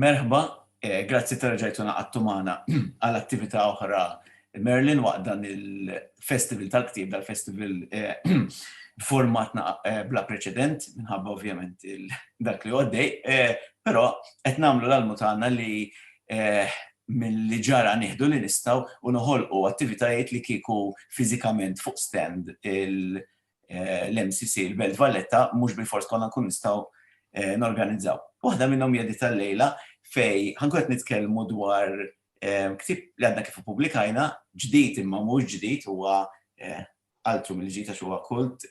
Merħba, grazzi ta' reġajtu naqadtu magħna għal attività oħra Merlin waqt dan il-Festival tal-Ktieb, dal-Festival b'format bla preċedent, minħabba ovvjament dak li għoddej, però qed nagħmlu l-almu tagħna li milli ġara nieħdu li nistgħu u noħolqu attivitajiet li kieku fiżikament fuq stand eh, l-MCC, il-Belt Valletta, mhux bil-fors konna nkun nistgħu eh, norganizzaw. Waħda minnhom hija tal-lejla fej ħankun qed nitkellmu dwar eh, ktib li għadna kif publikajna, ġdid imma mhux ġdid huwa altru mill-ġdid għax huwa kult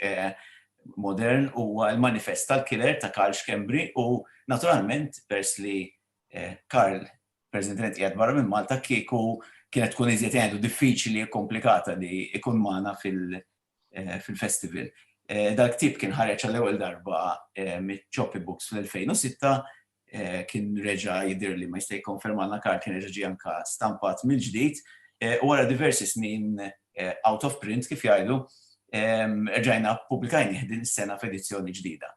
modern huwa l-manifest tal-killer ta' Karl Schembri u naturalment pers li Karl President qiegħed barra minn Malta kieku kienet tkun iżjed għandu diffiċli komplikata li ikun magħna fil- fil-festival. Dal-ktieb kien ħareġ għall-ewwel darba miċ-Ċopy Books fl-2006, kien reġa' jidhirli, ma jista' jikkonfermalna Karl, kien reġa' ġie anke stampat mill-ġdid, u wara diversi snin out of print, kif jgħidu, erġajna ppubblikajnieh din is-sena f'edizzjoni ġdida.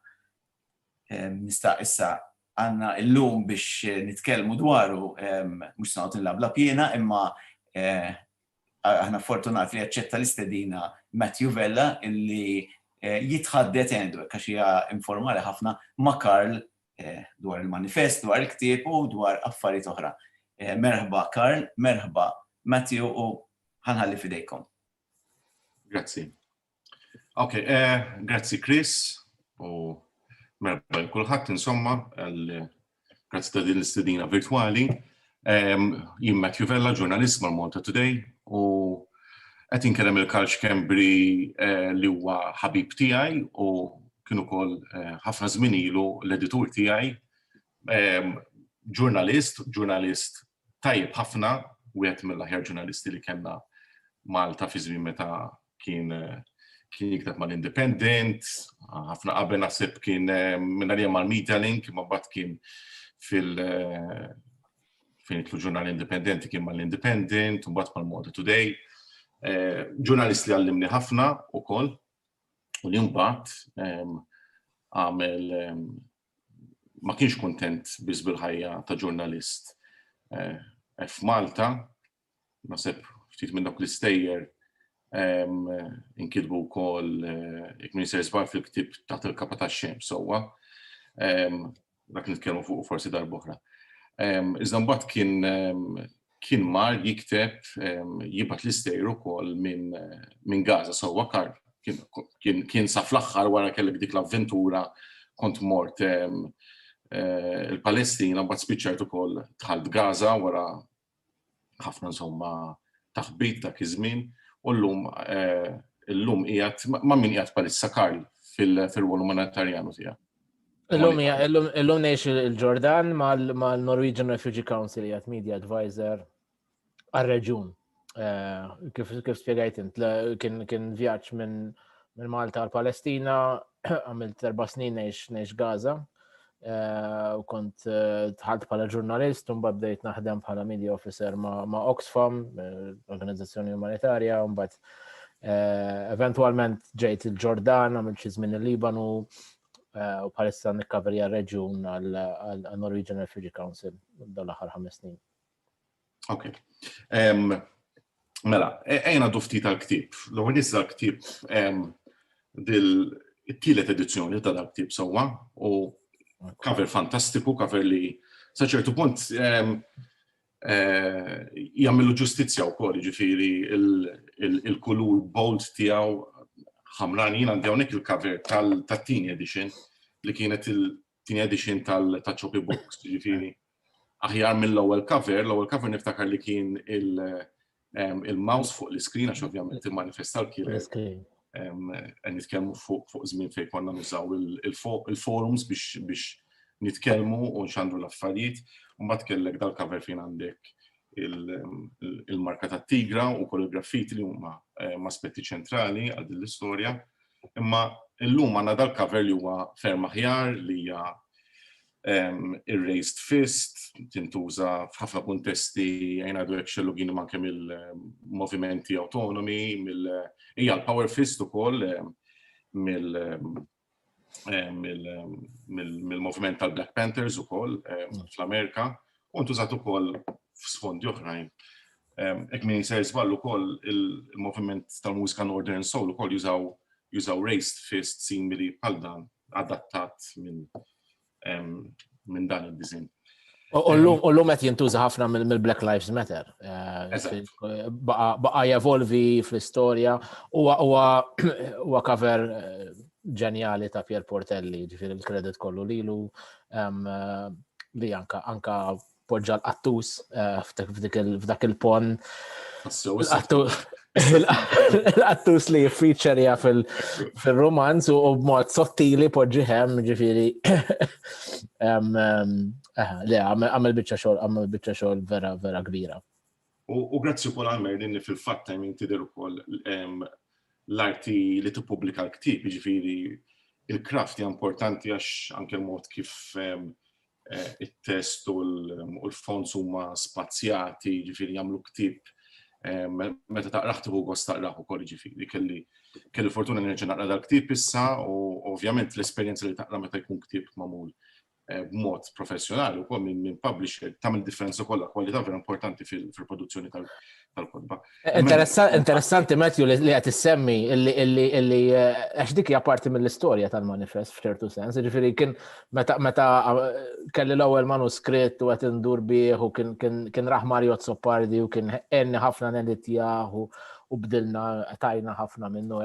Nista' issa għandna llum biex nitkellmu dwaru, mhux se noqgħod inlabblab jiena, imma aħna fortunati li aċċetta l-istedina Matthew Vella illi jitħaddet, għandu hekk għax hija informali ħafna, ma' Karl dwar il-manifest, dwar il-ktieb u dwar affarijiet oħra. Merħba Karl, merħba Matthew u ħa nħalli f'idejkom. Grazzi. Ok, eh, grazzi Chris u merba kulħadd insomma, grazzi ta' din l-istedina virtuali. Jien Matthew Vella, ġurnalist ma' Malta Today u qed inkellem il-Kalċ Kembri eh, li huwa ħabib tiegħi u kienu kol eh, ħafna żmien ilu l-editur tiegħi ġurnalist, ġurnalist tajjeb ħafna, wieħed mill-aħjar ġurnalisti li kellna Malta fi żmien meta kien kien jikteb mal-Independent, ħafna qabel naħseb kien minn għalija mal-Media Link, ma bat kien fil- fejn jitlu ġurnal indipendenti kien mal-Independent, u bat mal-Modi Today. Eh, ġurnalist li għallimni ħafna u koll, u li mbagħad għamel ma kienx kuntent biss bil-ħajja ta' ġurnalist eh, f'Malta, naħseb ftit minn dawk l-istejjer inkitbu wkoll eh, jekk min se żbar fil-ktib taħt il-kapa ta' xem sewwa. Dak nitkellmu fuq forsi darb'oħra. Iżda mbagħad kien kien mar jikteb jibgħat l-istejr ukoll minn Gaza sewwa kar kien sa fl-aħħar wara kellek dik l-avventura kont mort il-Palestina mbagħad spiċċajt ukoll dħalt Gaza wara ħafna insomma taħbit dak iż-żmien u llum illum qiegħed ma' min qiegħed palissa Karl fil-rwol umanitarjanu tiegħek. Illum illum ngħix il-Ġordan mal-Norwegian Refugee Council jgħat media advisor għal-reġun. Eh, kif spiegajt int, kien vjaġġ minn Malta għal Palestina, għamilt erba' snin ngħix Gaza, eh, u kont eh, tħalt bħala ġurnalist, un bdejt naħdem bħala media officer ma' Oxfam, organizzazzjoni umanitarja, un bat eventualment ġejt il-Ġordan, għamilt xi żmien il-Libanu, eh, u bħalissa nikkaverja reġjun għal Norwegian Refugee Council dawn l-aħħar ħames snin. Ok. Mela, e-, ejna dufti tal-ktib. L-għu nizza ktib dil-tielet edizzjoni ta' dal-ktib sawa u cover fantastiku, cover li saċertu punt jagħmillu ġustizzja wkoll, jiġifieri il-kulur bold tiegħu ħamran jien għandi hawnhekk il-cover tat-tieni edition li kienet il-tieni edition tal-Choppy Books, jiġifieri aħjar mill-ewwel cover, l-ewwel cover niftakar li kien il- il-mouse fuq l-iskrin għax ovvjament il-manifestar kien qed nitkellmu fuq żmien fejn konna nużaw il-forums biex nitkellmu u nxandru l-affarijiet, u mbagħad kellek dal-cover fejn għandek il-marka tat-tigra u kollu graffiti li huma aspetti ċentrali għal din l-istorja. Imma llum għandna dal-cover li huwa ferm aħjar li hija ir-raised fist, tintuża f'ħafna kuntesti għajn għadu hekk xellugin ma' kemm il-movimenti autonomi, hija l-power fist ukoll mill-moviment tal-Black Panthers ukoll fl-Amerika, u ntużat ukoll f'sfondi oħrajn. Hekk min se żball ukoll il-moviment tal-mużika Northern Soul ukoll jużaw raised fist simili bħal dan adattat minn minn dan id-diżin. U l-lum qed jintuża ħafna mill-Black Lives Matter. Eh, baqa jevolvi fl-istorja huwa cover eh, ġenjali ta' Pier Portelli, ġifir il-kredit kollu lilu eh, li anka anka poġġa l-qattus f'dak il-pon. Il-qattus li featurija fil-romanz u b'mod sottili poġġi hemm ġifiri. Eh, le, għamil bicċa xol, għamil bicċa xol vera, vera kbira. U grazzi u kol għammer li fil-fat tajmin tider u kol l-arti li t-publika l-ktib, ġifiri il-kraft hija importanti għax anke l-mod kif it-test u l-fonts huma spazjati, ġifieri jagħmlu ktieb meta taqrah tieħu gost taqrah ukoll ġifieri kelli kelli fortuna nerġa' naqra dal-ktieb issa u ovvjament l-esperjenza li taqra meta jkun ktieb magħmul b'mod professjonali wkoll minn minn publisher tagħmel differenza kollha kwalità vera importanti fil-produzzjoni tal-kotba. Interessanti Matthew li qed issemmi illi eh, għax dik hija parti mill-istorja tal-manifest f'ċertu sens, ġifieri kien meta eh, kelli l-ewwel manuskritt u qed indur bih u kien raħ Mario Zoppardi u kien enni ħafna neditjah u bdilna tajna ħafna minnu.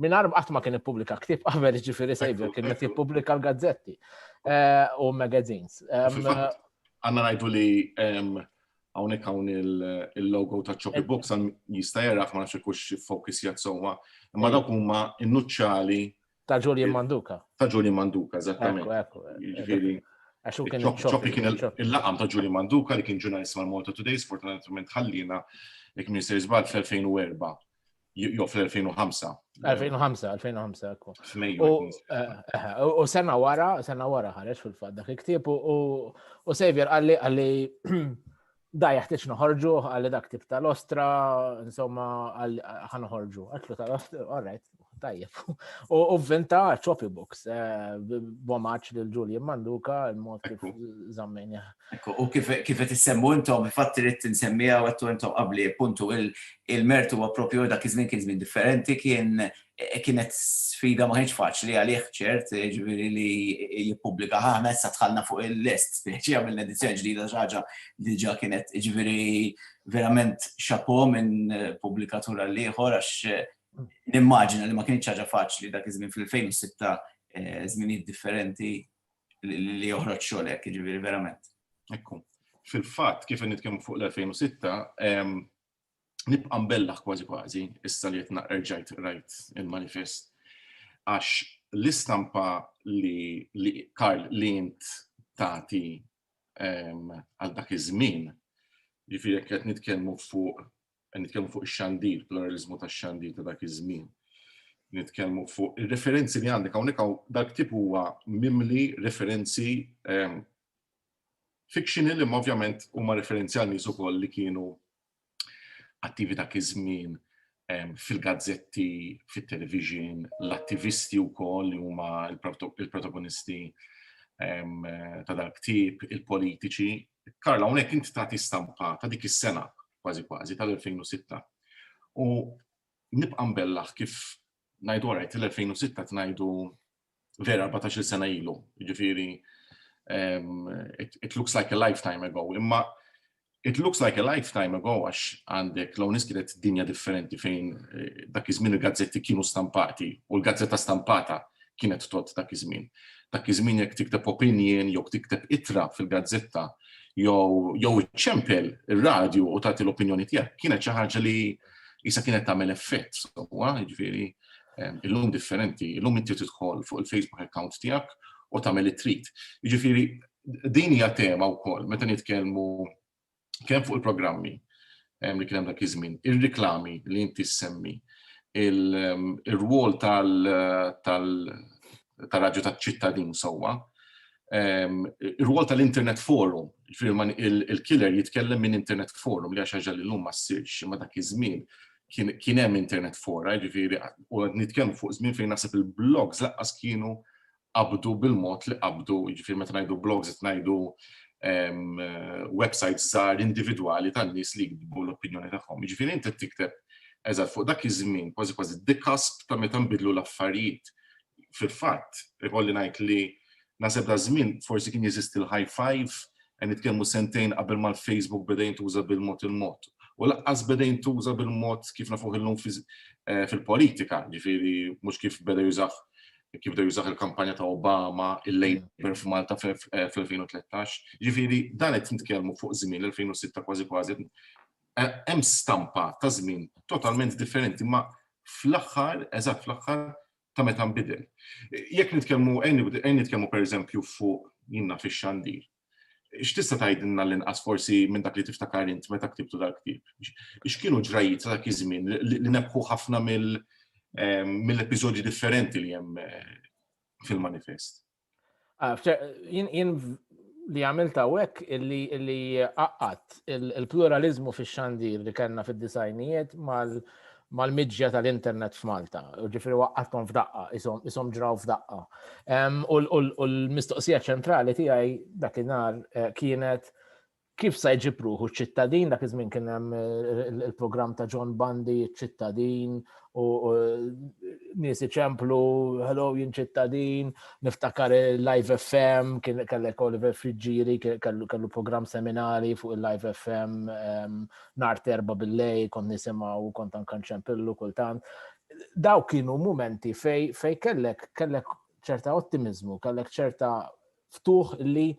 Minar qatt ma kien ippubblika ktieb qabel ġifieri Savior kien qed jippubblika l-gazzetti eh, u magazines. Għanna ngħidu li hawnhekk hawn il-logo ta' Choppy Books għan jista' jaraħ ma nafx ikux focus jgħat sewwa. Imma dawk huma innuċċali ta' Julian Manduka. Ta' Julian Manduka, eżattament. Ġifieri. Choppy kien il-laqam ta' Julian Manduka li kien ġurnalist mal-Malta Today, sfortunatament ħallina jekk Minister Zbal fl-2004. Jo, fl-2005. 2005, 2005, ekku. U sena wara, sena wara ħareġ fil-fat dak il-ktib u Xavier għalli għalli da jaħtieġ noħorġu għalli dak tip tal-ostra, insomma, ħan noħorġu. Għatlu tal-ostra, all right, Tajjeb. U vvinta Choppy Books, eh, bomaċ lil Julian Manduka, il-mod kif zammejni. Ekku, u kif qed issemmu intom, fatt irid insemmija u għattu intom qabli puntu il-mertu huwa propju dak iż-żmien kien żmien differenti, kien eh, kienet sfida ma kienx faċli għalih ċert, eh, ġifieri li jippubblika ħana issa tħallna fuq il-list, speċi għamilna edizzjoni ġdida ħaġa li ġa kienet ġifieri verament xapo minn pubblikatura l-ieħor għax Nimmaġina li ma kienx ħaġa faċli dak iż-żmien fl-2006 eh, żminijiet differenti li joħroġ xogħlek, jiġifieri verament. Ekku. Fil-fatt kif nitkellmu fuq l-2006, nibqa' mbellaħ kważi kważi issa li qed naqerġajt rajt il-manifest għax l-istampa li Karl li int tagħti għal dak iż-żmien, jiġifieri qed nitkellmu fuq qed nitkellmu fuq ix-xandir, pluralizmu tax-xandir ta' dak iż-żmien. Nitkellmu fuq ir-referenzi li għandek hawnhekk hawn dak tip huwa mimli referenzi ehm, fictional imma ovvjament huma referenzi għal nies ukoll li kienu attivi dak iż-żmien ehm, fil-gazzetti, fit-television, l-attivisti wkoll li huma il-protagonisti ehm, ta' dak tip, il-politiċi, Karl, hawnhekk inti tagħti stampa ta' dik is-sena kważi kważi tal-2006. U nibqa' mbellaħ kif ngħidu għarajt l-2006 tnajdu vera 14 sena ilu, ġifiri, um, it, it looks like a lifetime ago, imma it looks like a lifetime ago għax għandek law niskiret dinja differenti fejn eh, dak iż-żmien il-gazzetti kienu stampati u l-gazzetta stampata kienet tgħodd dak iż-żmien. Dak iż-żmien jekk tikteb opinjin jew tikteb ittra fil-gazzetta jew jew iċċempel ir-radju u tagħti l-opinjoni tiegħek kienet xi ħaġa li jisa kienet tagħmel effett sewwa, jiġifieri illum differenti, illum inti tidħol fuq il-Facebook account tiegħek u tagħmel it-trit. Jiġifieri din hija tema wkoll meta nitkellmu kemm fuq il-programmi li kien hemm dak iż-żmien, ir-riklami li inti ssemmi, ir-rwol tal-Radju taċ-Ċittadin sewwa, ir-rwol tal-Internet Forum, il-killer jitkellem minn Internet Forum li hija xi ħaġa li llum ma ssirx, imma dak iż-żmien kien hemm Internet Fora, jiġifieri u qed nitkellmu fuq żmien fejn naħseb il-blogs lanqas kienu qabdu bil-mod li qabdu, jiġifieri meta ngħidu blogs qed ngħidu websites żgħar individwali tan-nies li jiktbu l-opinjoni tagħhom. Jiġifieri inti qed tikteb eżatt fuq dak iż-żmien kważi kważi the cusp ta' meta nbidlu l-affarijiet. Fil-fatt, ikolli ngħid li naħseb da żmien forsi kien jeżisti l-high five, qed nitkellmu sentejn qabel ma l-Facebook beda jintuża bil-mod il-mod. U laqqas beda jintuża bil-mod kif nafuh illum eh, fil-politika, ġifieri mhux kif beda jużah kif bdew jużaw il-kampanja ta' Obama, il-Labour f'Malta fl-2013. Ġifieri dan qed nitkellmu fuq żmien l-2006 kważi kważi. Eh, hemm stampa ta' żmien totalment differenti, ma fl-aħħar, eżatt fl-aħħar ta' meta nbidel. Jekk nitkellmu, għajn nitkellmu pereżempju fuq jinna fix-xandir. X'tista' tgħidilna l-inqas forsi minn dak li tiftakar int meta ktibtu dal-ktieb? X'kienu ġrajjiet ta' dak iż-żmien li nebbħu ħafna mill-episodji differenti li hemm fil-manifest? Ah, jien li għamilt hawnhekk illi qaqqat il-pluralizmu fix-xandir li kellna fid-disajnijiet mal-miġja tal-internet f'Malta, ġifiri waqqatkom f'daqqa, isom ġraw f'daqqa. U l-mistoqsija ċentrali tiegħi dak inar eh, kienet kif sa jġipruħu ċittadin, dak iż-żmien kien hemm eh, il-programm ta' John Bundy, ċittadin, u nies iċemplu, hello jien ċittadin, niftakar il-Live FM, kien kellek Oliver Friġġiri, kellu programm seminari fuq il-Live FM, ehm, nar terba bil-lej, kont nisimaw, kont anka nċempillu kultant. Daw kienu momenti fej, fej kellek, kellek ċerta ottimizmu, kellek ċerta ftuħ li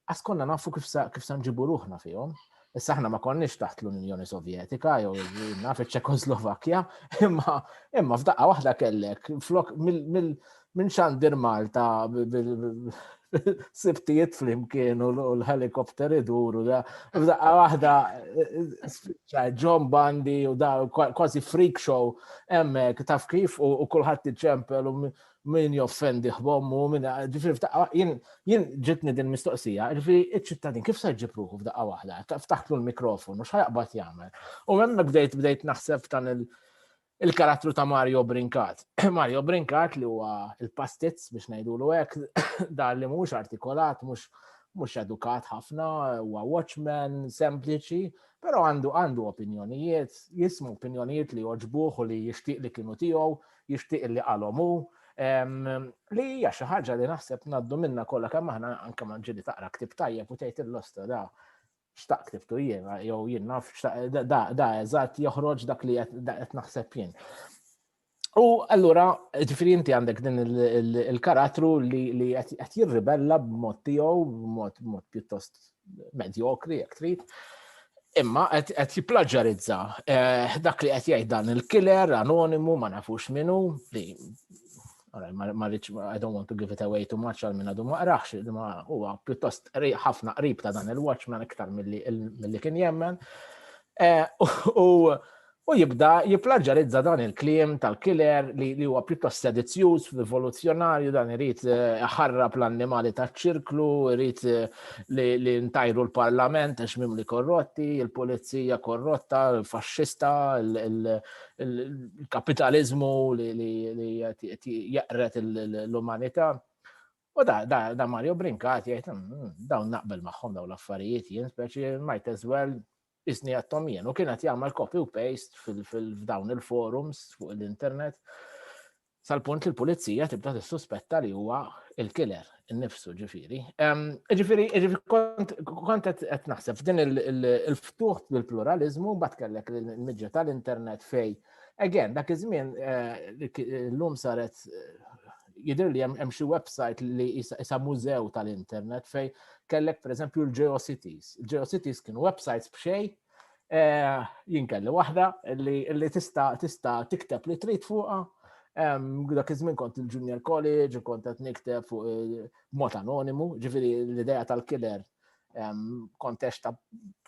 għaskonna nafu kif sa, kif sa nġibu ruħna fihom. Issa aħna ma konniex taħt l-Unjoni Sovjetika jew naf iċ-Ċekoslovakkja, imma imma f'daqqa waħda kellek flok Minn xandir Malta sibtijiet flimkien u l-helikopter iduru da. F'daqqa waħda eh, John Bandi u da kważi freak show hemmhekk taf kif u kulħadd iċempel u min joffendi ħbommu minn ġifieri f'daqqa jien ġitni din mistoqsija, ġifieri iċ-ċittadin kif se jġib ruħu f'daqqa waħda, ftaħtlu l-mikrofon u x'ħajqbad jagħmel. U hemmhekk bdejt bdejt naħseb dan il- il-karattru ta' Mario Brinkat. Mario Brinkat li huwa il-pastizz biex ngħidulu hekk, dan li mhux artikolat, mhux mhux edukat ħafna, huwa watchman sempliċi, però għandu għandu opinjonijiet, jismu opinjonijiet li joġbuh u li jixtieq li kienu tiegħu, jixtieq li qalhom hu, li hija xi ħaġa li naħseb ngħaddu minna kollha kemm aħna anke ma ġieli taqra ktib tajjeb u tgħid il-losta da xtaq tiftu jien, jew jien naf, da eżatt joħroġ dak li qed naħseb jien. U allura, ġifiri inti għandek din il-karattru li qed jirribella b'mod tiegħu, b'mod pjuttost medjokri, jekk trid. Imma qed jipplaġġarizza eh, dak li qed jgħid dan il-killer anonimu ma nafux minnu li ma rridx, I don't want to give it away too much għal minn għadu ma qraħx, ma huwa pjuttost ħafna qrib ta' dan il-Watchman iktar mill-li kien jemmen. Eh, u jibda jiplaġġarizza dan il-klim tal-killer li huwa pjuttost sedizzjuż, rivoluzzjonarju, dan irid eh, ħarrab l-annimali taċ-ċirklu, irid eh, li ntajru l-parlament għax mimli korrotti, il-pulizija korrotta, il-faxxista, il-kapitalizmu li jaqret l-umanità. U da, da, da Mario Brinkat jgħid, mm, mm, dawn naqbel magħhom dawn l-affarijiet jien, speċi might as well isni għattom jien. U kienet jagħmel copy u paste f'dawn il-forums fuq l-internet. sal-punt li l-pulizija tibda tissuspetta li huwa il-killer innifsu ġifiri. Ġifiri, kont qed naħseb f'din il-ftuħ bil-pluralizmu mbagħad kellek il-midja tal-internet fej. Again, dak iż-żmien eh, l-lum saret jidir li hemm xi website li jisa mużew tal-internet fej kellek pereżempju l-GeoCities. Il-GeoCities kienu websites b'xej Jien kelli waħda li tista' tista' tikteb li trid fuqha. Dak iż-żmien kont il-junior college u kont qed nikteb fuq mod anonimu, ġifieri l-idea tal-killer kontex ta'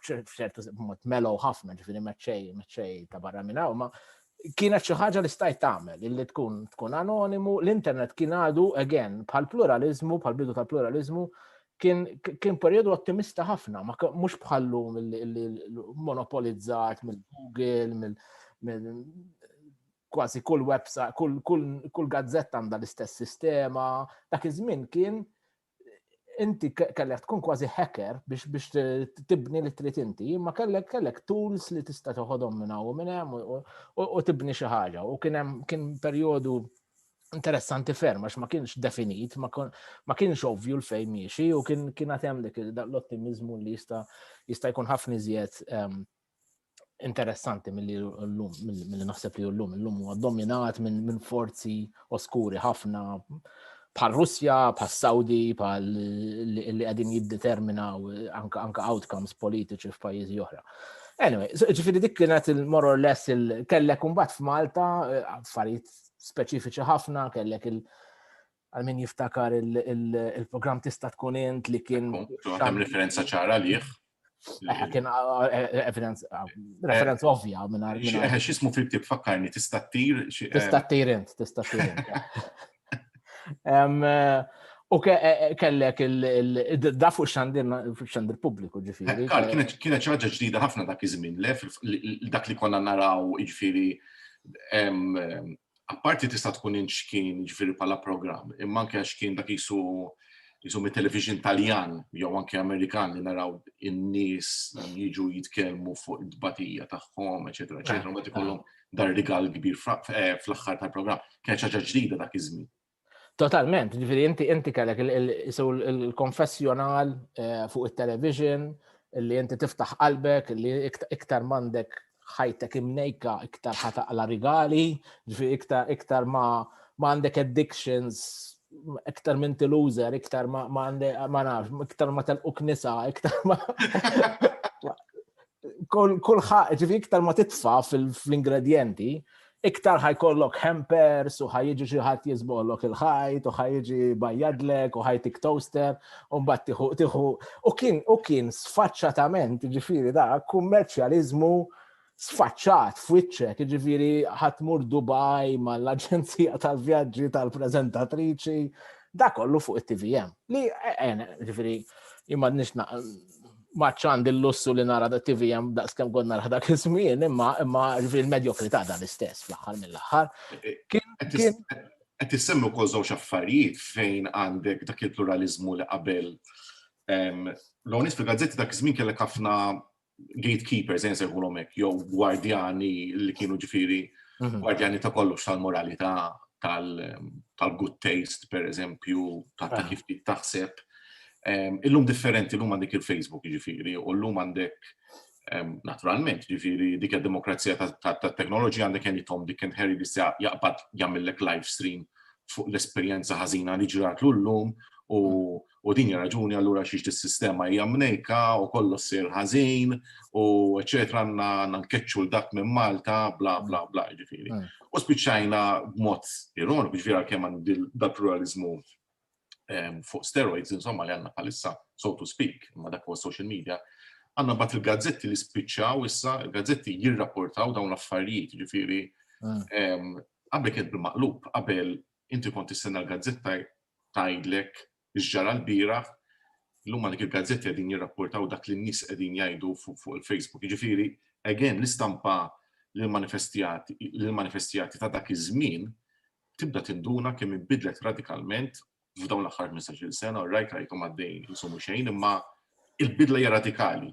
ċertu mod melow ħafna, ġifiri meċċej, meċċej ta' barra minn hawn, ma kienet xi ħaġa li stajt tagħmel illi tkun tkun anonimu, l-internet kien għadu again bħal pluralizmu, bħal bidu tal-pluralizmu, kien periodu ottimista ħafna, ma mhux bħallu monopolizzat mill-Google, kważi kull website, kull, kull, kull gazzetta għandha l-istess sistema. Dak iż-żmien kien inti kellek tkun kważi hacker biex biex tibni li trid inti, imma kellek kellek tools li tista' toħodhom minn hawn minn hemm u tibni xi ħaġa. U kien hemm kien perjodu interessanti ferm, għax ma kienx definit, ma kienx ovvju l-fej miexi, u kien kien għatem dik l-ottimizmu li jista jista jkun ħafni zjed ehm, interessanti mill-li l-lum, mill-li naħseb li l-lum, l-lum huwa dominat minn forzi oskuri ħafna bħal Russja, bħal Saudi, bħal li għadin jiddeterminaw anka outcomes politiċi f'pajjiżi oħra. Anyway, ġifiri dik kienet il-more or less il-kellek umbat f'Malta, eh, affarijiet speċifiċi ħafna, kellek il- għal min jiftakar il-program tista' tkun int li kien. Għatem referenza ċara liħ. Eh, kien eh, eh, referenza ovvja minn għal. Xismu fil tib fakkarni, tista' tir. Tista' tir int, tista' tir int. U e, e, kellek il-da fuq xandir pubbliku ġifiri. Kienet ċaġa ġdida ħafna dak iż-żmien, dak li konna naraw ġifiri apparti tista' tkun inċkien ġifieri bħala programm, imma anke għax kien dak jisu jisu mit-television Taljan jew anke Amerikan li naraw in-nies jiġu jitkellmu fuq id-batija tagħhom, eċetera, eċetera, ma ikollhom dar rigal kbir eh, fl-aħħar tal-programm. Kien ħaġa ġdida dak iż-żmien. Totalment, ġifiri, inti inti kellek il-konfessjonal eh, fuq il-television, li inti tiftaħ qalbek, li iktar mandek ħajtek imnejka, iktar ħataqla rigali, ġifiri, iktar, iktar ma għandek addictions, iktar minn tilużer, iktar ma għandek, ma nafx, iktar ma telquk nisa, iktar ma. Kulħadd, ġifi iktar ma titfa' fl-ingredjenti, iktar ħajkollok hampers u ħajġi xi ħadd jiżbollok il-ħajt u ħajġi bajjadlek u ħajtik toaster u mbagħad tieħu tieħu u kien u kien sfaċċatament ġifieri da kummerċjaliżmu sfaċċat f'wiċċek, ġifieri ħatmur Dubai mal-aġenzija tal-vjaġġi tal-preżentatriċi, da kollu fuq it-TVM. Li eh, eh, ġifieri imma nix maċ għandi l-lussu li nara da TV jem da skem kont nara dak iż-żmien, imma imma il-medjokrità dan l-istess fl-aħħar mill-aħħar. Qed tissemmu wkoll żewġ affarijiet fejn għandek dak il-pluralizmu li qabel l-onis fil-gazzetti dak iż-żmien kellek ħafna gatekeepers, jien sejħulhom hekk, jew gwardjani li kienu ġifieri mhm. gwardjani ta' kollox tal-moralità tal-good taste, per eżempju, ta' kif taħseb Ehm, illum differenti l-lum għandek il-Facebook ġifiri, u l-lum għandek ehm, naturalment ġifiri dik il-demokrazija ta' teknoloġi għandek għen jitom dik kien Harry Bissja jaqbad jammillek live stream fuq l-esperienza ħazina li ġrat l-lum u din raġuni għallura xiex il-sistema hija mnejka u kollu sir ħażin u eċetera għanna nankeċċu l-dak minn Malta bla bla bla ġifiri. Mm. U spiċċajna b'mod ironiku ġifiri għal kemm għandi dal-pluralizmu fuq steroids, insomma, li għanna palissa, so to speak, ma dak huwa social media, għanna bat il-gazzetti li spiċċaw issa, il-gazzetti jirrapportaw dawn l-affarijiet, ġifiri, mm. qabel kien bil-maqlub, qabel inti kont tistenna l-gazzetta tajdlek ġġara l-bira, l-lum għandek il-gazzetti għedin jirrapportaw dak li n-nis għedin jajdu fuq il-Facebook. Ġifiri, again, l-istampa l-manifestijati ta' dak iż-żmien tibda tinduna kemm inbidlet radikalment f'dawn l-aħħar 15-il sena, u rajt rajthom għaddejjin insumu xejn, imma il-bidla hija radikali.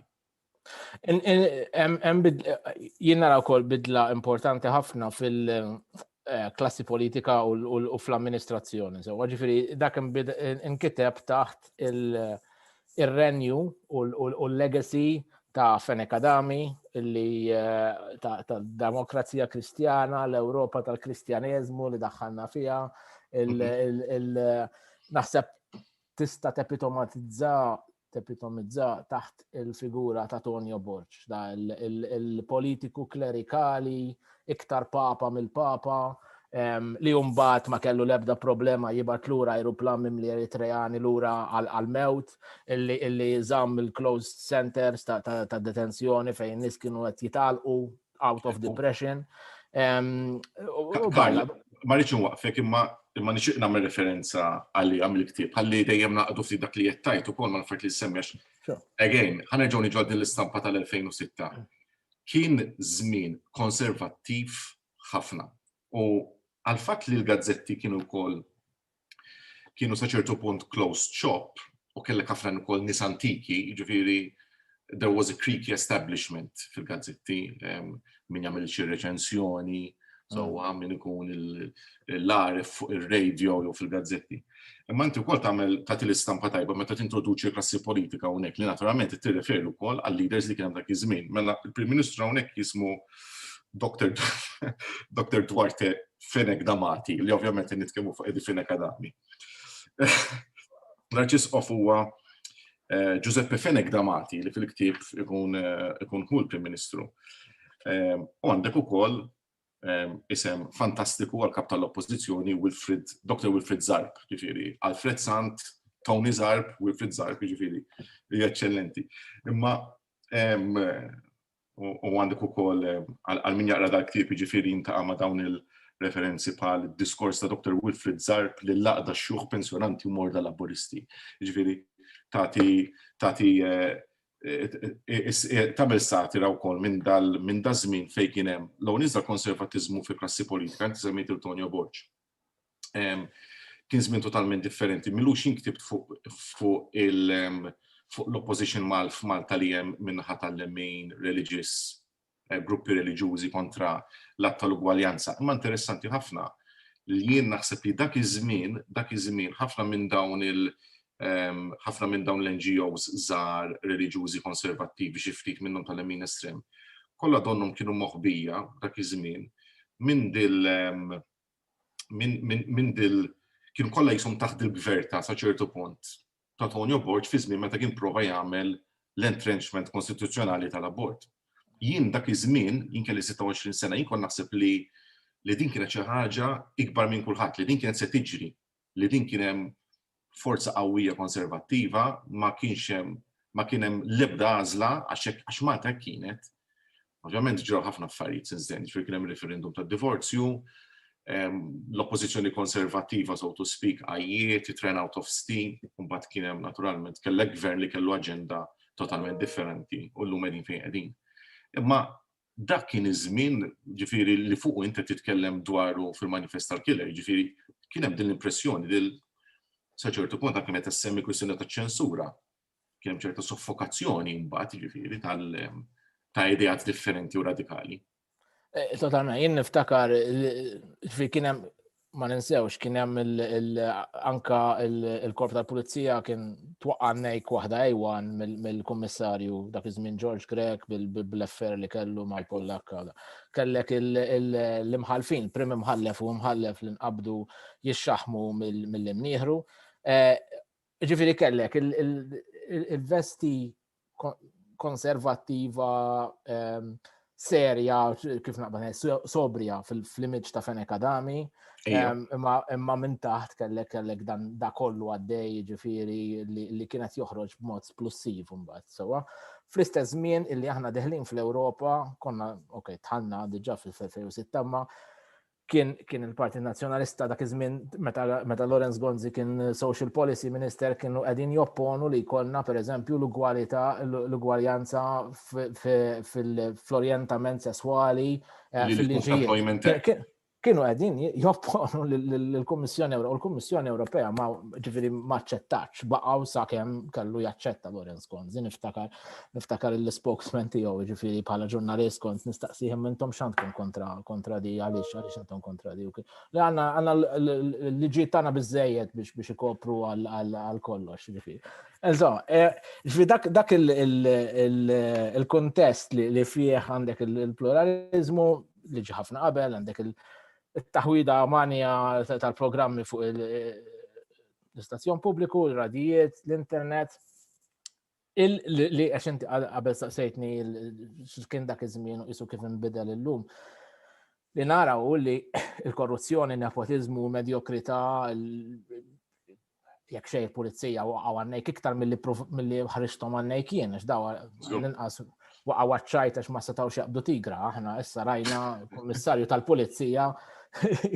Jien nara wkoll bidla importanti ħafna fil-klassi eh, politika u fl-amministrazzjoni. Ġifieri dak inkiteb taħt il- ir-renju u l-legacy ta' Fenech Adami li tad-demokrazija Kristjana, l-Ewropa tal-Kristjaneżmu li daħħalna fiha, naħseb tista' tepitomatizza tepitomizza taħt il-figura ta' Tonio Borg, da il-politiku klerikali iktar papa mill-papa, li jumbat ma kellu lebda problema jibat lura aeroplan mimli Eritreani lura għal-mewt, illi zam il-closed centers ta' detenzjoni fejn nis kienu għet jitalqu out of depression. Ma rridx nwaqfek imma imma nixtieq nagħmel referenza għalli għamil ktib ħalli dejjem naqdu ftit dak li qed tajt ukoll ma nfert li semmex. Again, ħanerġgħu niġu din l-istampa tal-2006. Kien żmien konservattiv ħafna u għall-fatt li l-gazzetti kienu wkoll kienu sa ċertu punt closed shop u kellek ħafna ukoll nies antiki, jiġifieri there was a creaky establishment fil-gazzetti, min jagħmel xi reċensjoni, So mm. għamil ikun l-għarif fuq il-radio jew fil-gazzetti. Imma inti wkoll tagħmel tagħti l-istampa tajba meta tintroduċi klassi politika hawnhekk li naturalment tirreferi wkoll għal leaders li kien hemm dak iż-żmien. Mela il-Prim Ministru hawnhekk jismu Dr. Dr. Duarte Fenek Damati, li ovvjament nitkellmu fuq Edi Fenek Adami. L-arċisqof huwa Giuseppe Fenech da Mati li fil-ktieb ikun hu l-Prim Ministru. U għandek ukoll isem fantastiku għall-Kap tal-Oppożizzjoni Wilfried, Dr. Wilfried Zarb, jiġifieri Alfred Sant, Tony Zarb, Wilfried Zarb, jiġifieri eċċellenti. Imma u għandek ukoll għal min jaqra dal-ktieb jiġifieri jintaqa' ma' dawn il-referenzi bħal diskors ta' Dr. Wilfrid Zarb li laqda x-xjuħ pensjonanti u morda Laburisti. Jiġifieri tagħti tagħti tagħmel satira wkoll minn dal minn daż-żmien fejn kien hemm l-ewwel iżda konservatiżmu fil-klassi politika, inti semmejt il-Tonio Borg. kien żmien totalment differenti. Milux jien ktibt fuq l-opposition mal f'Malta li hemm min-naħa tal-lemin, reliġiż, eh, gruppi reliġjużi kontra l-att tal-ugwaljanza. Imma interessanti ħafna li jien naħseb li dak iż-żmien, dak iż-żmien ħafna minn dawn il- ħafna minn dawn l-NGOs żgħar reliġjużi konservattivi xi ftit minnhom tal-lemin estrem, kollha donnhom kienu moħbija dak iż-żmien minn dil minn dil kienu kollha jisom taħt il-gverta sa ċertu punt ta' Tonio Borg fi żmien meta kien prova jagħmel l-entrenchment konstituzzjonali tal-abort. Jien dak iż-żmien, jien kelli 26 sena, jien kon naħseb li li din kienet xi ħaġa ikbar minn kulħadd, li din kienet se tiġri. li din kien hemm forza qawwija konservattiva, ma kienx hemm ma kien hemm l-ebda għażla għax Malta hekk kienet. Ovvjament ġraw ħafna affarijiet since then, ġifieri kien hemm referendum tad-divorzju, ehm, l-oppożizzjoni konservattiva so to speak għajjiet, it ran out of steam, mbagħad kien hemm naturalment kellek gvern li kellu aġenda totalment differenti u llum qegħdin fejn qegħdin. Imma dak kien iż-żmien, ġifieri li fuqu int qed titkellem dwaru fil-manifest tal-killer, ġifieri kien hemm din l-impressjoni li sa ċertu punt anke meta semmi kwistjoni ta' ċensura, kien hemm ċerta soffokazzjoni mbagħad ġifieri tal ta' ideat differenti u radikali. Eh, totalment, jien niftakar, kien hemm ma ninsewx kien hemm anka il-korp tal-pulizija kien twaqqa' nejk waħda ejwan mill-kummissarju dak iż-żmien George Grek bil-affair li kellu mal-Pollakka. Kellek l-imħalfin, prim imħallef u imħallef li nqabdu jixxaħmu mill-imnieħru. Eh, Jiġifieri kellek il-vesti konservattiva ehm, serja, kif naqbel, sobrija fil-image ta' Fenek Adami, ehm, imma minn taħt kellek kellek dan da kollu għaddej ġifiri li kienet joħroġ b'mod splussiv mbagħad sewa. Fl-istess żmien illi aħna deħlin fl-Ewropa, konna, ok, tħanna diġà fil-2006, ma kien kien il-Partit Nazzjonalista dak iż-żmien meta, meta Lawrence Gonzi kien Social Policy Minister kienu qegħdin jopponu li jkollna pereżempju l-ugwalità l-ugwaljanza fil-orjentament sesswali eh, fil-liġijiet. Kienu qegħdin jopponu lill-Kummissjoni Ewropea u l-Kummissjoni Ewropea ma ġifieri ma aċċettax baqgħu sakemm kellu jaċċetta Lawrence Gonzi niftakar niftakar il-spokesman tiegħu, ġifieri bħala ġurnalist kont nistaqsihom intom x'għandkom kontra kontra di għaliex għaliex intom kontra di. Li għandna għandna l-liġijiet tagħna biżejjed biex biex ikopru għal kollox, ġifieri. Eżo, eh, ġifieri dak dak il-kontest li fih għandek il-pluralizmu li ġi ħafna qabel, għandek il-taħwida manja tal-programmi fuq il- l-istazzjon pubbliku, l-radijiet, l-internet, Li għax inti qabel saqsejtni kien dak iż-żmien u qisu kif inbidel illum. Li nara u li l-korruzzjoni, nepotizmu, medjokrità, jekk xej pulizija u għannejk iktar mill-li ħriġtom għannejk jien, għax dawa l-inqas waqgħu għaċ-ċajt għax ma setgħux jaqbdu tigra. Aħna issa rajna kummissarju tal-pulizija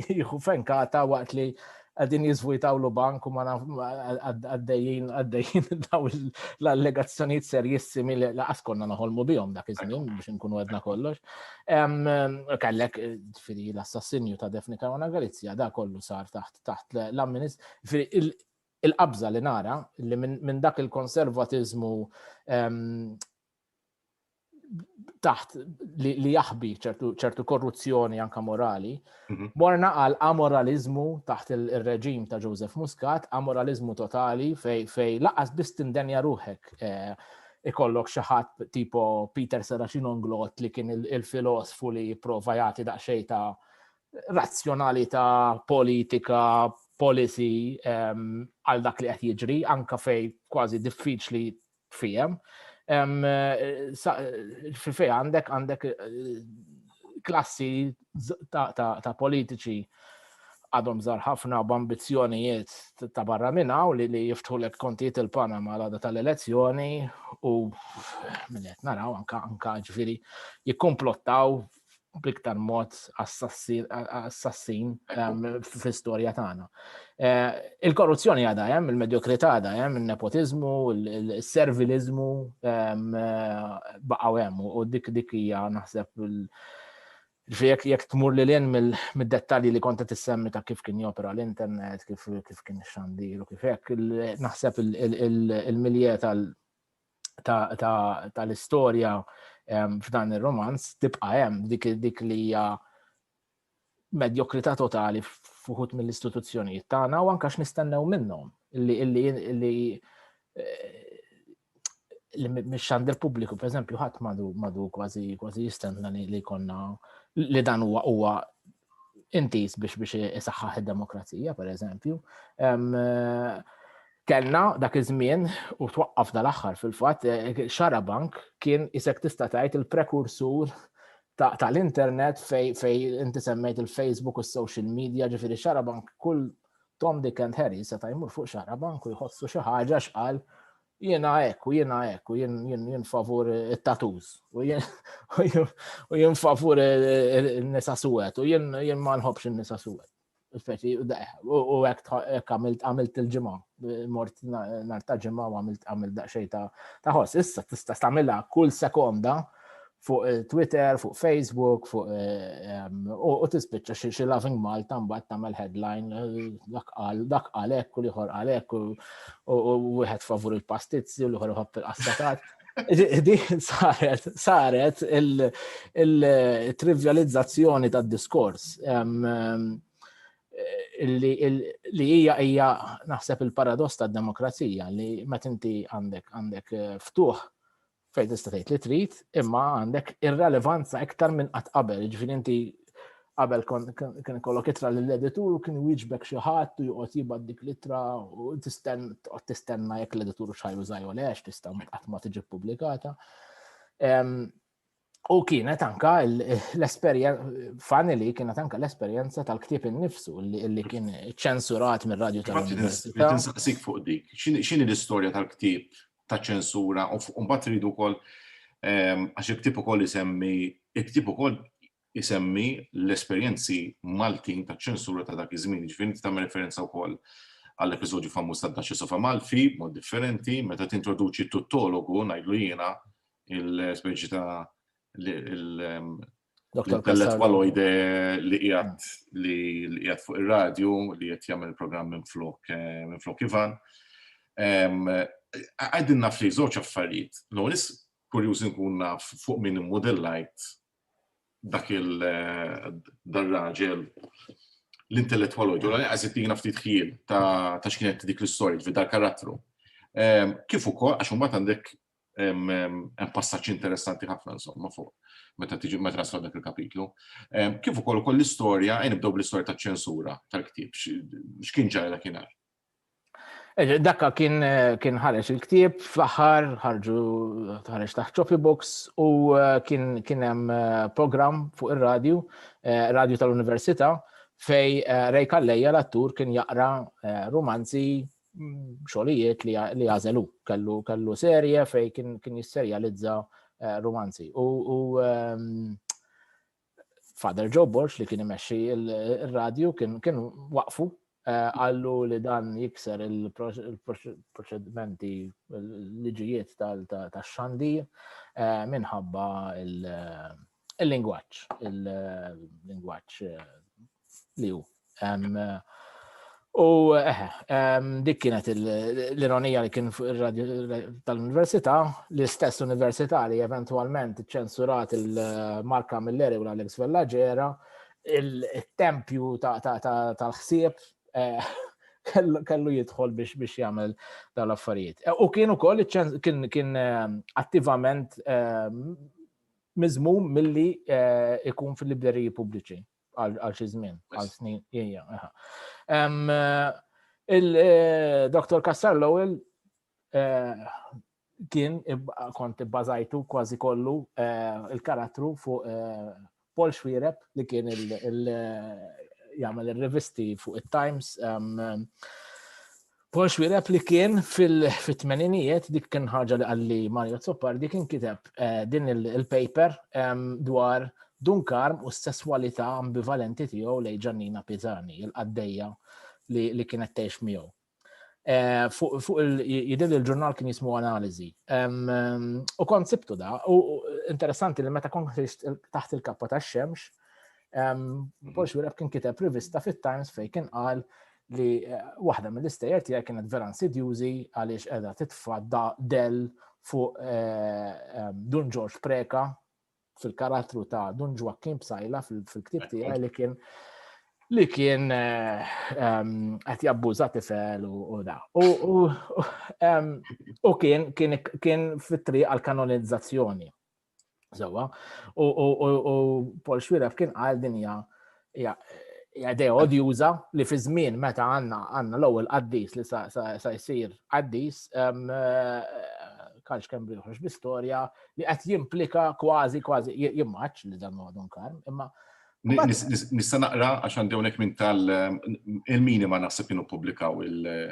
jieħu fenkata waqt li għadin jizvujtawlu bank u ma għaddejjin għaddejjin daw l-allegazzjoniet serjissimi li laqas konna naħolmu bihom dak iż-żmien biex nkunu għedna kollox. Kellek firri l-assassinju ta' Defni Karwana Galizja da kollu sar taħt taħt l-amminist. Il-qabża li nara li minn dak il-konservatizmu taħt li, li jaħbi ċertu korruzzjoni anka morali, mhm. morna għal amoralizmu taħt il-reġim ta' Joseph Muscat, amoralizmu totali fej, fej laqas biss tindenja ruħek eh, ikollok xaħat tipo Peter Serafin Onglot li kien il-filosfu li prova jagħti daqsxejn ta' razzjonalità politika policy ehm, għal dak li qed jiġri anka fej kważi diffiċli tfihem. Fil-fej għandek għandek klassi ta' politiċi għadhom żar ħafna b'ambizzjonijiet ta' barra minn hawn li li jiftħu lek kontijiet il-Panama l tal-elezzjoni u minnet naraw anka anka ġifieri jikkumplottaw bl-iktar mod assassin ehm, fl-istorja tagħna. Eh, il-korruzzjoni għadha hemm, il-medjokrità għadha hemm, il-nepotizmu, il-servilizmu ehm, eh, baqgħu hemm u dik dik hija naħseb il- Jek jek tmur li l-in mid-dettalji li konta tissemmi ta' kif kien jopera l-internet, kif kien xandir u kif hekk, naħseb il-milje tal- tal-istorja f'dan ir-romanz tibqa' hemm dik dik li hija medjokrità totali fuħut mill-istituzzjonijiet tagħna u anke x'nistennew minnhom li li li mix-xandir pubbliku, per eżempju, ħadd madu madu kważi kważi jistenna li konna li dan huwa huwa intiż biex biex isaħħaħ id-demokrazija, per eżempju. Kellna dak iż-żmien u twaqqaf dal-aħħar fil-fatt eh, xarabank kien isek tista' tgħid il-prekursur tal-internet fej fej inti semmejt il-Facebook u s-social media ġifieri xarabank kull Tom Dick and Harry seta' jmur fuq xarabank u jħossu xi ħaġa x'qal jiena hekk u jiena hekk u jien favur it-tatuż u jien favur in-nisa suwed u jien ma nħobbx in-nisa suwed. Speċi, u hekk għamilt għamilt il-ġimgħa, mort nhar ta' ġimgħa u għamilt għamilt daqsxejn ta' ħoss. Issa tista' tagħmilha kull sekonda fuq eh, Twitter, fuq Facebook, fuq eh, ehm, u tispiċċa xi xi Loving Malta mbagħad tagħmel headline eh, dak qal dak qal hekk u liħor qal hekk u wieħed favur il-pastizzi u liħor iħobb il-qastatat. Di saret, saret il-trivializzazzjoni tad diskors ehm, ehm, li hija hija naħseb il-paradoss tad-demokrazija li meta inti għandek għandek ftuħ Fejn tista' tgħid li trid, imma għandek irrelevanza iktar minn qatt qabel, ġifieri inti qabel kien kollok itra lill-editur u kien wieġbek xi ħadd u joqgħod jibgħat dik l-itra u tistenna tistenna jekk l-editur xajru żajju lex tista' qatt ma tiġi ppubblikata. U kienet anka l-esperjenza, finally kienet anka l-esperjenza tal-ktib innifsu li kien ċensurat mir-radju tal-Università. Tinsaqsik fuq dik, x'inhi l-istorja tal-ktib ta' ċensura u mbagħad rridu wkoll ehm, għax il-ktieb ukoll isemmi il-ktieb ukoll isemmi l-esperjenzi Maltin ta' ċensura ta' dak iż-żmien, ġifieri inti tagħmel referenza wkoll għall episodju famuż ta' Daċċi Sofa Malfi, mod differenti, meta tintroduċi tuttologu, ngħidlu jiena, il-speċi ta' ehm, Dr. Pellet Waloide li qiegħed li qiegħed fuq ir-radju li qed jagħmel programm minn flok eh, minn flok Ivan. Għaddin naf li żewġ affarijiet. L-ewwel kurjuż nkun naf fuq min immodellajt dak il eh, dar-raġel l-intellettual u ġola għazit li nafti tħil ta' xkienet dik l-istorit fid dal karattru. Kif ukoll għax mbagħad għandek hemm passaġġ interessanti ħafna insomma fuq meta tiġi meta naslu dak il-kapitlu. Kif ukoll ukoll l-istorja, ejn nibdew bl-istorja taċ-ċensura tal-ktieb, x'kien ġara dakinhar? Dakka kien kien ħareġ il-ktieb fl-aħħar ħarġu ħareġ taħt Choppy Books u kien kien hemm programm fuq ir-radju, radju tal-Università, fej Ray Kalleja l-attur kien jaqra romanzi xogħlijiet li għażelu. Kellu kellu serje fej kien kien jisserjalizza eh, romanzi. U, u um, Father Joe Borch li kien imexxi il-radju kien kien waqfu eh, għallu li dan jikser il-proċedimenti l-liġijiet tal-xandir eh, minħabba il- Il-lingwaġġ, il-lingwaġġ eh, li hu. U eħe, dik kienet l-ironija li kien fuq ir-radio tal-Università, l-istess Università li eventualment ċensurat il-Marka Milleri u l-Alex Vellaġera, il-tempju tal-ħsieb eh, kellu jidħol biex biex jagħmel dawn l-affarijiet. U kien ukoll kien kien eh, attivament eh, Miżmum milli jkun fil-libreriji pubbliċi għal xi żmien, għal snin. Il-Dr. Kassar Lowell kien kont ibbażajtu kważi kollu il-karattru fuq Paul Schwireb li kien il-jagħmel ir-rivisti fuq it-Times Paul Xwireb li kien fil-tmeninijiet dik kien ħaġa li għalli Mario Zoppardi kien kiteb eh, din il-paper dwar Dunkarm u s-sesswalità ambivalenti tiegħu lej Ġannina Pizani, il-qaddejja li kienet tgħix miegħu. Eh, fuq jidil il-ġurnal kien jismu analizi. U kont sibtu da, u interessanti li meta kont taħt il-kappa ta' xemx, Paul Xureb kien kiteb rivista fit-Times fej kien qal li eh, waħda mill-istejjer tiegħi kienet vera insidjużi għaliex qiegħda titfa' del fuq eh, Dun George Preka fil-karattru ta' Dun Joaquin Psajla fil-ktib tiegħi li kien li kien eh, qed jabbuża tifel u da. U kien kien fit-triq għal kanonizzazzjoni. Sewa, u Paul Xwiref kien għal dinja idea odjuża li fi żmien meta għandna għandna l-ewwel qaddis li sa jsir qaddis kanx kemm biħroġ bi storja li qed jimplika kważi kważi jimmaċ li dan huwa kar, imma Nista naqra għax għandi hawnhekk minn tal il-minima naħseb kienu publikaw il-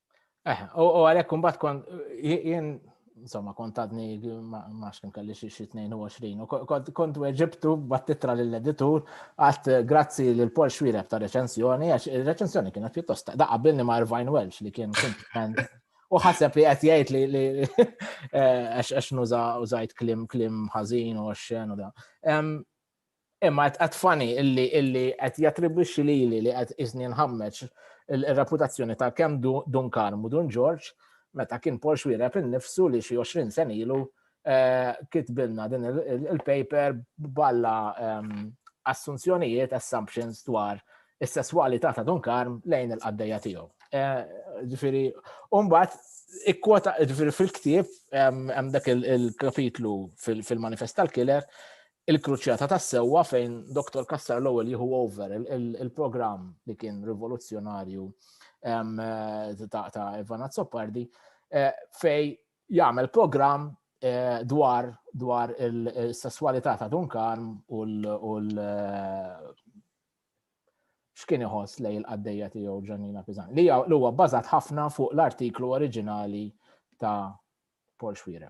Eh, u għalek kumbat kont, jien, insomma, kont għadni maċ kem kalli xie 22, u kont weġibtu battitra l-editur għat eh, grazzi l-Pol Xwireb ta' reċensjoni, għax il-reċensjoni kienet pjuttost da' għabilni ma' Irvine Welsh li kien komplement u ħaseb li qed jgħid li eh, għax nuża użajt klim klim ħażin u għaxxen u da. Imma qed fani illi illi qed jattribwixxi lili li qed iżni nħammeġ ir-reputazzjoni ta' kemm Dun Karm u Dun Ġorġ meta kien Paul Xuereb innifsu li xi 20 sena ilu eh, kitbilna din il-paper balla ehm, assunzjonijiet, assumptions dwar is-sesswalità ta' Dun Karm lejn il-qaddejja tiegħu. Eh, ġifieri, mbagħad ikkwota ġifieri fil-ktieb ehm, hemm dak il-kapitlu fil-manifest tal-killer Il-kruċjata tas-sewwa fejn Doktor Cassar l-ewwel jieħu over il-programm li kien rivoluzzjonarju ta' Ivan Azzopardi eh, fej jagħmel programm Eh, dwar dwar il-sessualità ta' Dunkarm u l- eh, x'kien iħoss lej il-qaddejja tiegħu Ġannina Pizan. Li huwa bbażat ħafna fuq l-artiklu oriġinali ta' Paul Xwireb.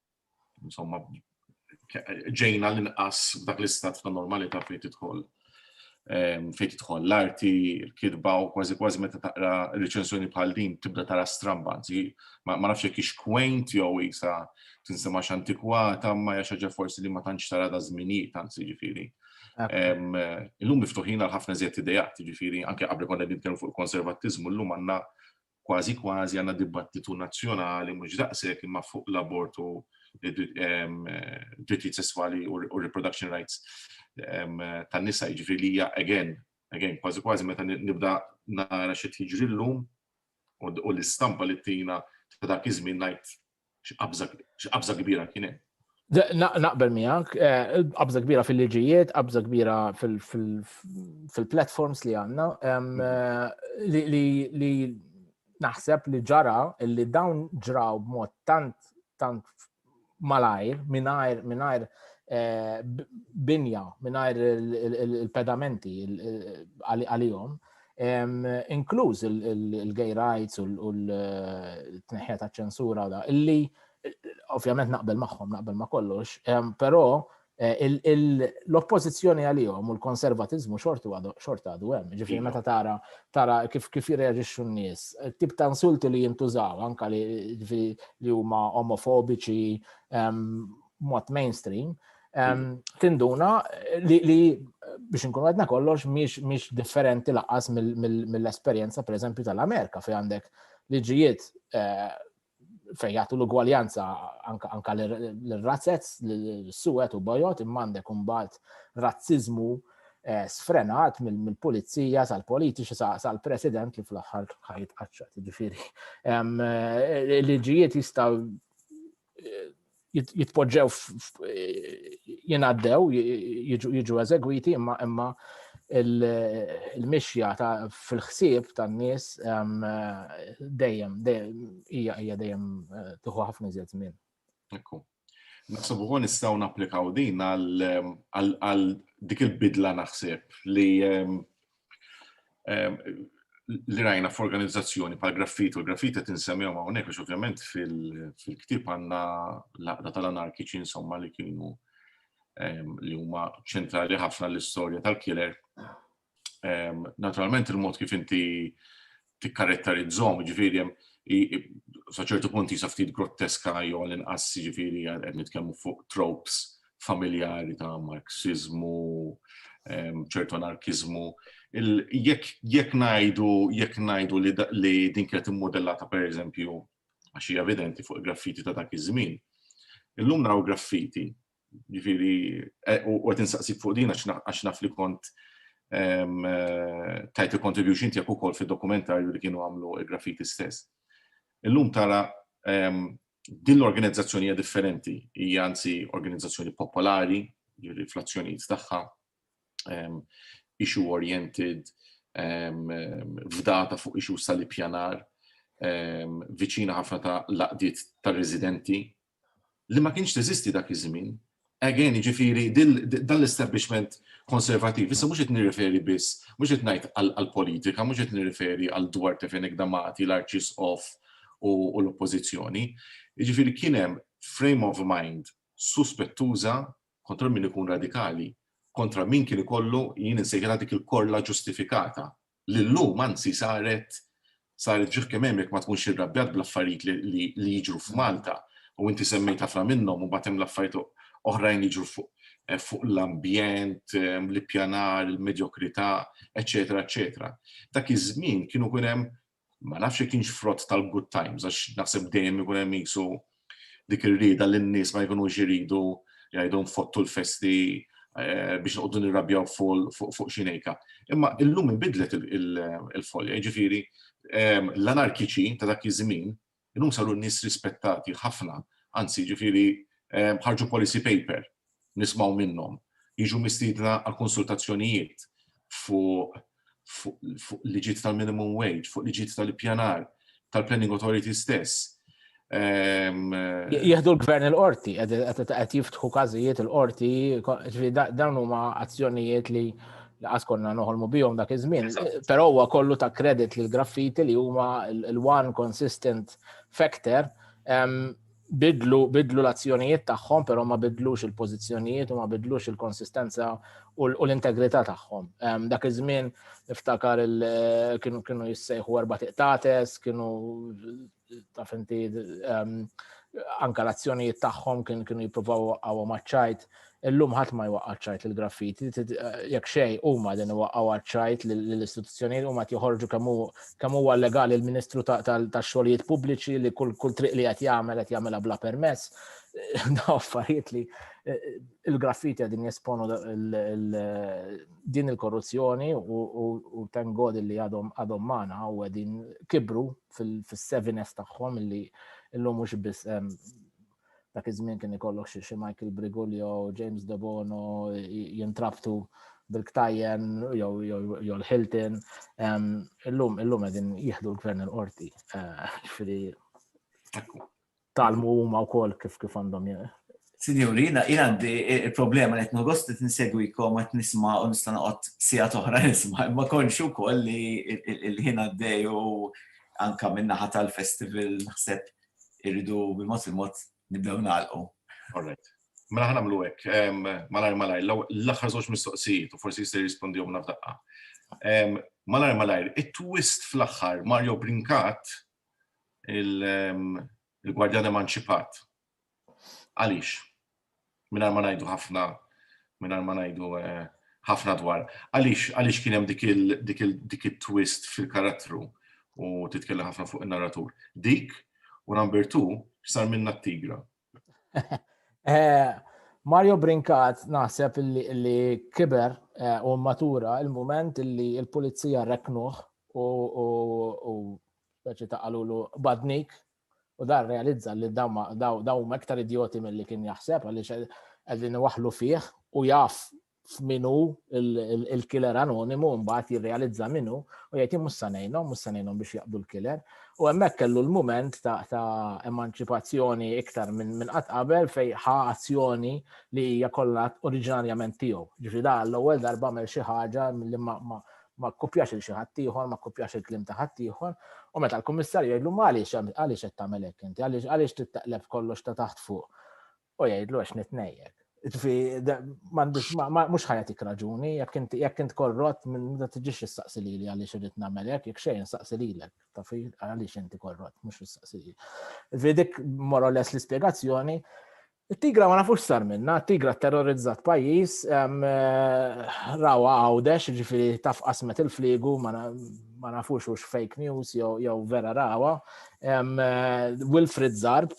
insomma, ġejna l-inqas dak l-istat ta' normalità fejn tidħol ehm, fejn tidħol l-arti, l-kitba u kważi kważi meta taqra reċensjoni bħal din tibda tara strambanzi, ma nafx jekk ix kwejnt jew isa tinsema x'antikwata ma hija xaġa forsi li ma tantx tara da żminijiet anzi ġifieri. Ehm, illum miftuħin għal ħafna żjed idejat, ġifieri anke qabel konna nitkellmu fuq il-konservattiżmu llum għandna kważi kważi għandna dibattitu nazzjonali mhux daqshekk imma fuq l-abort u drittijiet sesswali u reproduction rights tan-nisa jiġri li hija again, again, kważi kważi meta nibda nara xi jiġri llum u l-istampa li tina ta' dak iż-żmien ngħid X'qabża kbira kien hemm. Naqbel miegħek, eh, qabża kbira fil-liġijiet, qabża kbira fil-platforms li għandna mhm. eh, li naħseb li ġara li dawn ġraw b'mod tant tant malajr, minajr, minajr eh, binja, minajr il-pedamenti għalihom, inkluż il-gay rights u l-tneħħija ta' ċensura u da, illi ovvjament naqbel magħhom, naqbel ma' kollox, però eh, l-oppożizzjoni għalihom u l-konservatizmu xortu xorta għadu hemm. Ġifieri meta tara tara kif kif jirreaġixxu n-nies, tip ta' insulti li jintużaw anka li huma omofobiċi mod mainstream, tinduna li biex nkun għadna kollox miex differenti laqqas mill-esperienza per eżempju tal-Amerika fej għandek liġijiet eh, fej jgħatu l-ugwaljanza anka l-razzez, l-suwet u bajot, imma għandek umbat razzizmu eh, sfrenat mill-pulizija sal-politiċi sal-president li fl-axħar ħajt qaċċat, ġifiri. Eh, liġijiet jistaw jitpoġġew jingħaddew jiġu eżegwiti imma imma il-mixja ta' fil-ħsieb tan-nies dejjem hija hija dejjem eh, tuħu ħafna iżjed żmien. Ekku. Naħseb ukoll nistgħu napplikaw din għal dik il-bidla naħseb li li rajna f'organizzazzjoni pal graffiti u graffiti qed insemmihom hawnhekk għax ovvjament fil-ktieb għandna l-aqda tal-anarkiċi insomma li kienu li huma ċentrali ħafna l-istorja tal-killer. Naturalment il-mod kif inti tikkarettarizzhom, jiġifieri hemm sa ċertu punt jisa ftit grotteska jew l-inqas jiġifieri qed nitkellmu fuq tropes familjari ta' marxizmu, ċertu anarkizmu. Jekk ngħidu jekk ngħidu li din kienet immodellata pereżempju għax hija evidenti fuq il-graffiti ta' dak iż-żmien. Illum naraw graffiti Ġifieri, eh, u qed insaqsik fuq din għax naf li kont ehm, eh, tajt il-contribution tiegħek ukoll fid-dokumentarju li kienu għamlu il-graffiti stess. Illum tara ehm, din l-organizzazzjoni hija differenti, hija anzi organizzazzjoni popolari, ġifieri fl-azzjonijiet tagħha, ehm, issue oriented, fdata fuq issue sal-ippjanar, viċina ħafna ta' laqdiet tar-residenti, li ma kienx teżisti dak iż-żmien. Again, jiġifieri dan l-establishment konservattiv, issa mhux qed nirreferi biss, mhux qed ngħid għall-politika, mhux qed nirreferi għal Duarte Fenech D'Amati, l-Arċisqof u l-Oppożizzjoni. Jiġifieri kien hemm frame of mind suspettuża kontra min ikun radikali, kontra min kien ikollu, jien insejħilha dik il-korla ġustifikata li llum anzi saret saret ġieħ kemm hemm jekk ma tkunx irrabjat bl-affarijiet li li jiġru f'Malta u inti semmejt ħafna minnhom u mbagħad hemm l-affarijiet oħrajn li jiġru fuq eh, fuq l-ambjent, eh, l-ippjanar, il-medjokrità, eċetera, eċetera. Dak iż-żmien kienu kun hemm ma nafx jekk kienx frott tal-good times għax naħseb dejjem ikun hemm jisu dik ir-rieda li n-nies ma jkunux iridu jgħidu nfottu l-festi eh, biex noqogħdu nirrabjaw fuq xi nejka. Imma illum inbidlet il-folja, jiġifieri ehm, l-anarkiċi ta' dak iż-żmien illum saru n-nies rispettati ħafna, anzi jiġifieri ehm, ħarġu policy paper nismgħu minnhom, jiġu mistiedna għal konsultazzjonijiet fuq fuq liġiet tal-minimum wage, fuq liġiet tal-ippjanar, tal-planning authority stess. Ehm, Jieħdu l-gvern il-qorti, qed jiftħu każijiet il-qorti, dawn huma azzjonijiet li laqas konna noħolmu bihom dak iż-żmien. Però huwa kollu ta' kredit lil graffiti li huma l-one consistent factor ehm, bidlu, bidlu l-azzjonijiet tagħhom, però ma bidlux il-pożizzjonijiet u ma bidlux il-konsistenza u l-integrità tagħhom. Dak iż-żmien niftakar kienu kienu jissejħu erba' tiqtates, kienu taf inti anka l-azzjonijiet tagħhom kienu jippruvaw għaw maċċajt Illum ħadd ma jwaqqa' ċajt il-graffiti, jekk xej huma din iwaqqgħu ċajt lill-istituzzjonijiet huma qed joħorġu kemm huwa legali l-Ministru tax-Xogħlijiet Pubbliċi li kull triq li qed jagħmel qed jagħmilha bla permess. Daw affarijiet li il-graffiti qegħdin jesponu din il-korruzzjoni u thank God li għadhom għadhom magħna u qegħdin kibru fis-seviness tagħhom li llum mhux biss dak iż-żmien kien ikollok xi xi Michael Brigulio, James Debono jintrabtu bil-ktajjen jew l-Hilton. Illum illum qegħdin jieħdu l-gvern il-qorti. Eh, ġifieri talmu huma wkoll kif kif għandhom Sinjuri, jina għandi il-problema li jtnu għost li t-insegwikom għat nisma u nista noqot sija toħra nisma, ma konxu koll li il-ħina d-dej u anka minnaħat tal-festival naħseb irridu bil-mod il-mod nibdew nagħlqu. All right. Mela ħana mlu hekk, malajr malajr, l-aħħar żewġ mistoqsijiet u forsi jista' jirrispondihom nafdaqqa. Malajr malajr, it-twist fl-aħħar Mario Brinkat il-Gwardjan Emanċipat. Għaliex? mingħajr ma ngħidu ħafna mingħajr ma ngħidu eh, ħafna dwar. Għaliex kien hemm dik il-twist fil-karattru u titkellem ħafna fuq in-narratur. Dik u number two sar minna t-tigra. Eh, Mario Brinkat naħseb li kiber eh, u matura il-moment li il-pulizija reknuħ u speċi ta' għalulu badnik U dan realizza li daw huma iktar idjoti milli kien jaħseb għaliex qegħdin waħlu fih u jaf f'minu il-killer anonimu mbagħad jirrealizza minu u jgħid mhux se ngħinhom, mhux se ngħinhom biex jaqdu l-killer. U hemmhekk kellu l-mument ta' emanċipazzjoni iktar minn qatt qabel fej ħa azzjoni li hija kollha oriġinarjament tiegħu. Ġifieri da l-ewwel darba għamel xi ħaġa li ma kkupjax il xi ħadd ieħor, ma kkupjax il-kliem ta' ħadd ieħor, u meta l-kummissarju jgħidlu għaliex għaliex qed tagħmel hekk inti, għaliex għaliex tittaqleb kollox ta' taħt fuq. U jgħidlu għax nitnejjek. Ġifi, mhux ħajatik raġuni, jekk int korrott, ma tiġix issaqsi lili għaliex irid nagħmel hekk, jekk xejn saqsi lilek, ta' fi għaliex inti korrott, mhux issaqsi lili. Ġifi dik morales l-ispjegazzjoni It-tigra ma nafux sar minna, it-tigra terrorizzat pajjiż, rawa għawdex, ġifiri taf qasmet il-fliegu, ma nafux ux fake news jew vera rawa. Wilfred Zarb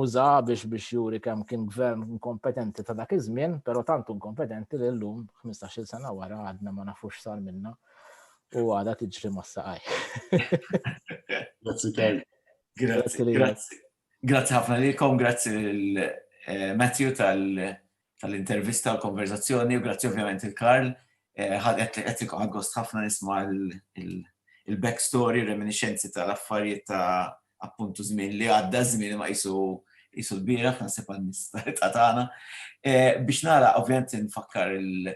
uża biex biex juri kemm kien gvern inkompetenti ta' dak iż-żmien, però tant inkompetenti li llum 15-il sena wara għadna ma nafux sar minna u għada tiġri ma' saqaj. Grazzi, Grazzi. Grazzi ħafna lilkom, grazzi lil Matthew tal-intervista u l-konverzazzjoni u grazzi ovvjament lil Karl. Ħadet qed ikun gost ħafna nisma' il-back story, reminiscenzi tal-affarijiet ta' appuntu żmien li għadda, żmien ma qisu qisu l-bieraħ, naħseb għan-nies ta' tagħna. Biex nagħlaq ovvjament infakkar lil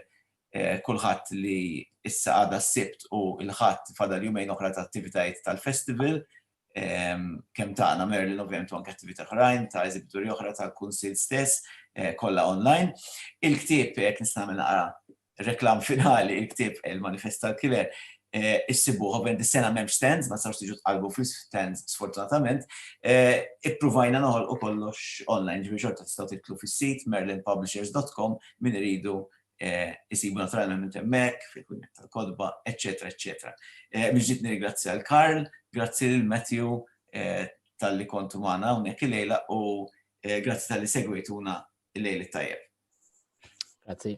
kulħadd li issa għada s-Sibt u l-Ħadd fadal jumejn oħra ta' attivitajiet tal-festival. kemm tagħna Merlin ovvjament u anke attività oħrajn ta' eżibituri oħra tal-Kunsill stess kollha online. Il-ktieb, jekk nista' nagħmel naqra reklam finali, il-ktieb Il-Manifest tal-Killer, issibuh ovvjament dis-sena m'hemmx stands, ma tistgħux tiġu tqallbu fl-istands sfortunatament. Ippruvajna noħolqu kollox online, ġifieri xorta tistgħu tidħlu fis-sit merlinpublishers.com min iridu isibu naturalment hemmhekk, fil-Kunjett tal-Kotba, eċċetera, eċċetera. Mill-ġdid nirringrazzja lil Karl, grazzi lil Matthew talli kontu magħna hawnhekk illejla u grazzi talli segwejtuna l-lejl it-tajjeb. Grazzi.